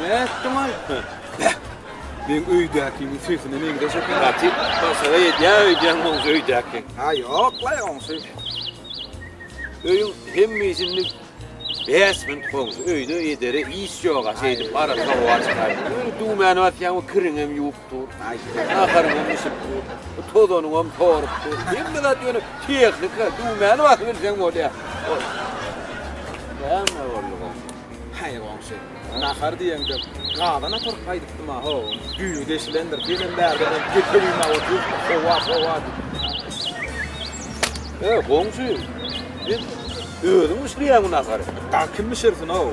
Nätdiň aýtdy. Beh! Meň öýdäkiň sesine meňzeş eken. Gaty başaga edýär öýdýän oň öýdäki. Ha ýok-laý oňsy. Öýüň hemmeisini bäş gün goňşy öýde edere iş ýoga şeýdip arassa howa çykaýyp. Düwmäni basýaň o kiriňem ýuwup. dur. Naharyňy hem bişirip dur. Bu tozanyňy hem sorup dur. Hemme zat ýöne tehnika, düwmäni basyp bilseň bolýar. Näme boldy bu? Haý goňşy. Nahar diýeňde gadan atyryp gaýdypdym ha, ho. Düýe deşilendir. Gezen bärden hem getegime oturyp, howa, howa diýip. He, goňşy. Sen özüň bişirýäňmi nahary? Dagy kim bişirsin, ho?